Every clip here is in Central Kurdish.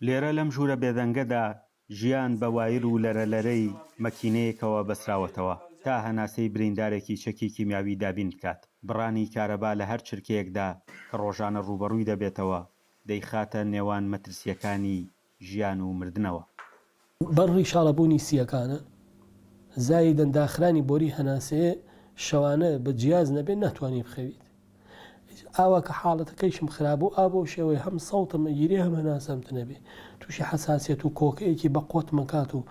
لێرە لەم ژوورە بێدەنگەدا ژیان بە وایر و لەرەلەرەی مەکینەیەکەوە بەستراوەتەوە تا هەناسەی بریندارێکی چەکی کیمیاوی دابین بکات، بڕانی کارەبا لە هەر چرکەیەکدا کە ڕۆژانە ڕووبەڕووی دەبێتەوە دەیخاتە نێوان مەترسییەکانی ژیان و مردنەوە. بە ڕیشاڵە بوونی سییەکانە زایدەن داخرانی بۆری هەناسەیێ شەوانە بە جیاز نەبێ ناتوانی بخەویت ئاوا کە حاڵەتەکەیشم خرابوو ئا بەو شێوەی هەم سەوتم ئەگیرێ هەم هەناسەم تنەبێ تووشی حەساسیەت و کۆکەیەکی بە قۆتم ئەکات و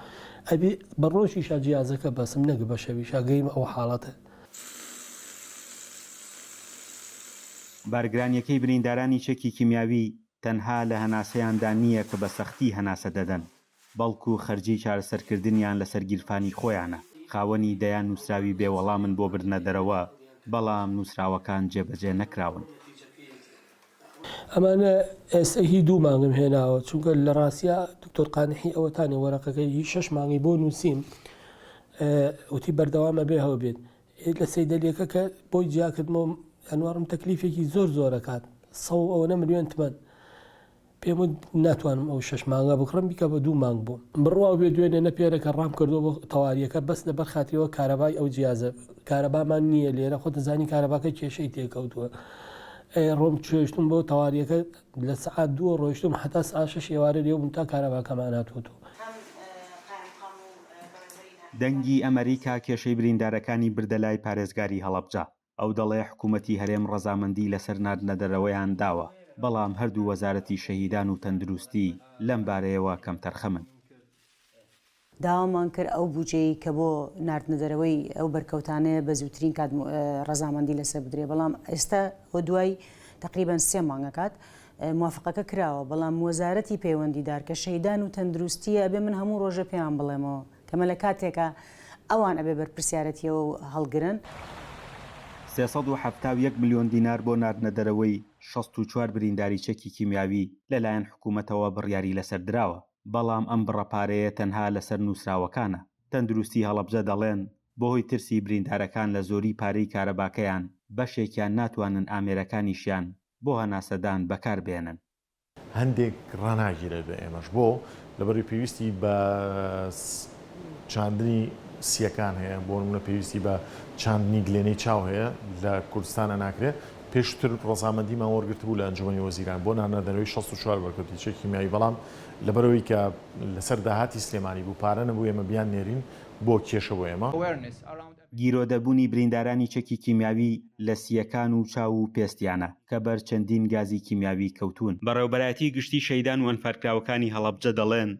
ئەبێ بە ڕۆژیشا جیازەکە بەسم نەک بە شەویشا گەیمە ئەو حاڵەتە. بارگرانیەکەی بریندارانی چەکی کیمیاوی تەنها لە هەناسەیاندا نییە کە بە سەختی هەناسە دەدەن، بەڵکو خەرجیی چارەسەرکردنیان لەسەر گیرفانی خۆیانە. خاوەنی دەیان نووسراوی بێ وەڵامن بۆ بردنە دەرەوە، بەڵام نووسراوەکان جێبەجێ نەکراون. ئەمانە ئێستە هی دوو مانگم هێناوە، چونکە لە ڕاستیا دکتۆر قانحی ئەوەتانێ وەرەقەکەی هی شەش مانگی بۆ نووسیم، وتی بەردەوام ئەبێ هەوبێت. لە سەیدەلیەکە کە بۆی جیا کردمەوە ئەنوارم تەکلیفێکی زۆر زۆرەکات سە و ئەوەنە ملیۆن تمەن پێم وت ناتوانم ئەو شش مانگە بکڕم بیکە بە دوو مانگ بووم بڕوا بێ دوێنێ نەپێرەکە ڕام کردو بۆ تەواریەکە بەس لەبەر خاتریەوە کارەبای ئەو جیازە کارەبامان نییە لێرە خۆتە زانی کارەباکە کێشەی تێکەوتووە ئەی ڕۆم چێشتم بۆ تەواریەکە لە سەعات دووە ڕۆیشتم هەتا سەعات شەش ئێوارە لێو بووم تا کارەباکەمان هاتووەتەوە. دەنگی ئەمەریکا کێشەی بریندارەکانی بردە لای پارێزگاری هەڵەبجە، ئەو دەڵێ حکومەتی هەرێم ڕەزامەندی لەسەر ناردنەدەرەوەیان داوە، بەڵام هەردوو وەزارەتی شەهیدان و تەندروستی لەمبارەیەوە کەمتەرخەمن. داوامان کرد ئەو بودجەی کە بۆ ناردنە دەرەوەی ئەو بەرکەوتانەیە بە زووترین کات ڕەزامەندی لەسەر بدرێت، بەڵام ئێستا و دوای تەقریبەن سێ مانگە کات موافقەکە کراوە، بەڵام وەزارەتی پەیوەندیدار کە شەیدان و تەندروستییە ئەبێ من هەموو ڕۆژێ پێیان بڵێمەوە کە مەلە کاتێکە ئەوان ئەبێ بەرپرسیارەتییەوە هەڵگرن. سێ سەد و حەفتا و یەک ملیۆن دینار بۆ ناردنە دەرەوەی شەست و چوار برینداری چەکی کیمیاوی لەلایەن حکوومەتەوە بڕیاری لەسەر دراوە. بەڵام ئەم بڕە پارەیە تەنها لەسەر نوسراوەکانە. تەندروستی هەڵەبجە دەڵێن، بەهۆی ترسی بریندارەکان لە زۆری پارەی کارەباکەیان بەشێکیان ناتوانن ئامێرەکانیشیان بۆ هەناسەدان بەکاربێنن. هەندێک ڕاناگیرێت بە ئێمەش. بۆ؟ لەبەرەوەی پێویستی بە چاندنی سییەکان هەیە، بۆ نمونە پێویستی بە چاندنی گلێنەی چاو هەیە لە کوردستان ئەناکرێ، پێشتر ڕەزامەندیمان وەرگرتبوو لە ئەنجومەنی وەزیران بۆ نانەدەرەوەی شەست و چوار بەرکەوتی چەکی کیمیاوی بەڵام لەبەرئەوەی کە لەسەر داهاتی سلێمانی بوو پارە نەبوو ئێمە بیاننێرین بۆ کێشە بۆ ئێمە. گیرۆدەبوونی بریندارانی چەکی کیمیاوی لە سییەکان و چاو و پێستیانە، کە بەر چەندین گازی کیمیاوی کەوتوون. بەڕێوەبەرایەتی گشتی شەهیدان و ئەنفالکراوەکانی هەڵەبجە دەڵێن،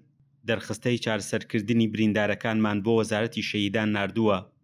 دەرخستەی چارەسەرکردنی بریندارەکانمان بۆ وەزارەتی شەهیدان ناردووە